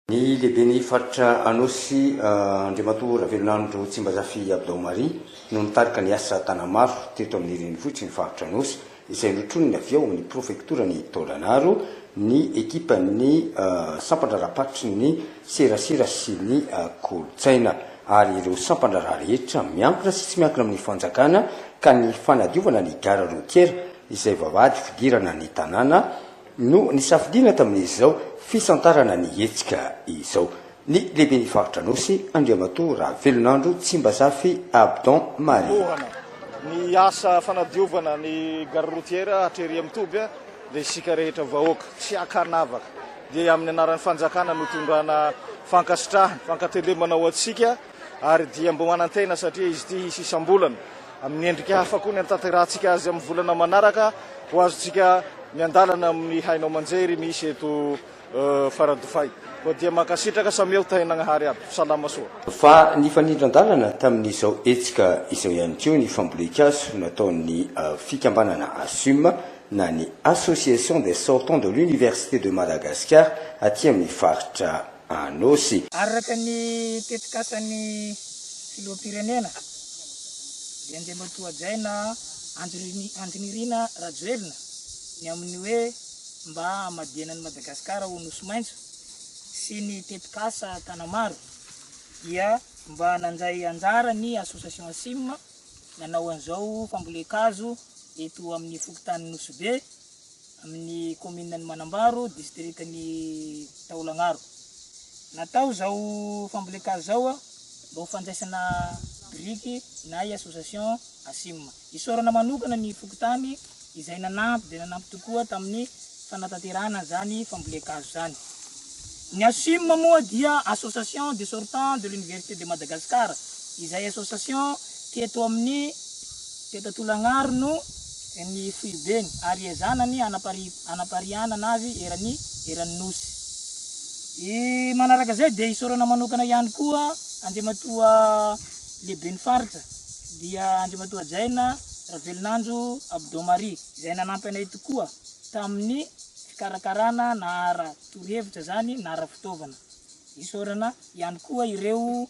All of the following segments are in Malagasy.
Ny lehiben'ny faritra Anôsy, Andriamatoa Ravelonandro Tsimbazafy Abdaomaria no nitarika ny asa Tanamaro teto amin'ny renivohitr'i ny faritra Anôsy izay notroniny avy ao amin'ny prefektoran'i Taolagnaro ny ekipan'ny sampandraharaham-paritry ny serasera sy ny kolontsaina ary ireo sampandraharaha rehetra miankina sy tsy miankina amin'ny fanjakana ka ny fanadiovana ny gara rotiera izay vavahady fidirana ny tanàna no nisafidiana tamin'izao fisantarana ny hetsika izao ny lehiben'ny faritra Anosy, Andriamatoa Ravelonandro Tsimbazafy Abdon Marie. Ny asa fanadiovana ny gare routière hatrery amin'ny toby dia isika rehetra vahoaka tsy ankanavaka dia amin'ny anaran'ny fanjakana no itondrana fankasitrahana, fankatelemana ho antsika. ary dia mbo manantena satria izy ity hisy isam-bolana amin'ny endrika hafa koa ny antaterahantsika azy amin'ny volana manaraka ho azontsika miandalana amin'ny haino aman-jery misy eto Faradofay koa dia mankasitraka samia ho tahin'Agnahary aby salama soa. Fa nifanindran-dalana tamin'izao hetsika izao ihany koa ny fambolen-kazo nataon'ny fikambanana Asum na ny Association des Sortants de l'Université de Madagascar aty amin'ny faritra. Anosy. Araka ny tetikasan'ny filoham-pirenena, dia Andriamatoajaina Andrinirina Rajoelina ny amin'ny hoe mba hamadihana an'i Madagasikara ho Nosy maitso sy ny tetikasa Tanamaro dia mba nandray anjara ny Association Asim nanao an'izao fambolen-kazo eto amin'ny fokontanin'i Nosy Be amin'ny kaomininan'i Manambaro, distrikan'i Taolagnaro. Natao izao fambolen-kazo izao mba ho fandraisana biriky na i association ASIM. Isaorana manokana ny fokontany izay nanampy dia nanampy tokoa tamin'ny fanatanterahana an'izany fambolen-kazo izany. Ny ASIM moa dia Association des Sortants de l'Université de Madagascar, izay association teto amin'ny Teto Antolagnaro no ny foibeny ary iezahana ny hanapariahanana azy eran'ny eran'ny Nosy. I manaraka izay dia isaorana manokana ihany koa Andriamatoa Lehiben'ny Faritra dia Andriamatoa Jaina Ravelonanjo Abdon Marie izay nanampy anay tokoa tamin'ny fikarakarana na ara torohevitra izany na ara fitaovana. Isaorana ihany koa ireo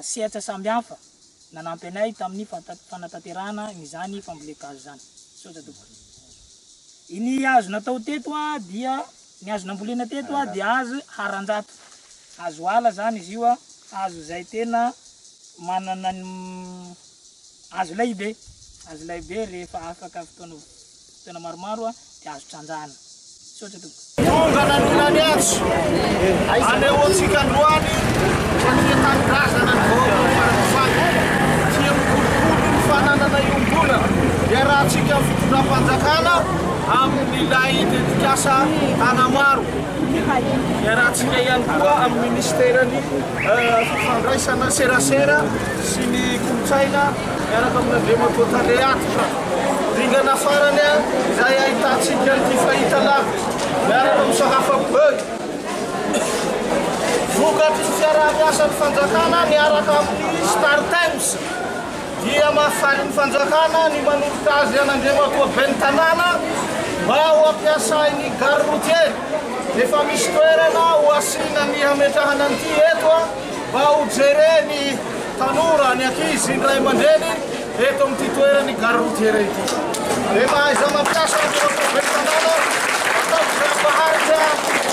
sehatra samy hafa. Nanampy anay tamin'ny fanatanterahana izany fambolen-kazo izany. Misaotra tompoko. Ny hazo natao teto dia ny hazo nambolena teto dia hazo haranjato. Hazo ala izany izy io, hazo izay tena manana ny hazo lehibe, hazo lehibe rehefa afaka fotoana Tena maromaro a, dia azo trandrahana. Misaotra tompoko. Tonga nanina ny antso anehoantsika androany fa tia tanindrazana ny vahoakan'i Farafangana, tia mikolokolo ny fananana iombonana iarahantsika amin'ny fitondram-panjakana amin'ilay tetikasa Tanamaro. Iarahantsika ihany koa amin'ny Ministeran'ny Fifandraisana Serasera sy ny Kolontsaina Miaraka amin'Andriamatoa Tale Atotra, dingana farany izay ahitantsika an'ity fahitalavitra miaraka amin'ny Sakafa Bug. Vokatry ny fiaraha-miasan'ny fanjakana miaraka amin'ny Star Times dia mahafalin'ny fanjakana ny manolotra azy an'Andriamatoa Ben'ny Tanàna mba ho ampiasain'ny gare routier. Efa misy toerana ho asiana ny hametrahana an'ity eto. mba ho jeren'ny tanora, ny ankizy, ny ray aman-dreniny eto amin'ity toeran'ny Gare routière ity. Dia mba hahaizana mampiasa ny fitaovam-pitantanana ataon'izay hampaharitra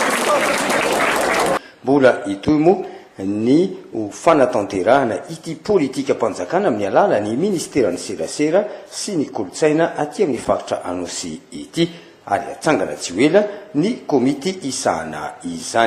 ny fitaovan-tsika koa. Mbola hitohy moa ny ho fanatanterahana ity politikam-panjakana amin'ny alalan'ny Ministeran'ny Serasera sy ny Kolontsaina aty amin'ny faritra Anosy ity ary hatsangana tsy ho ela ny komity hisahana izany.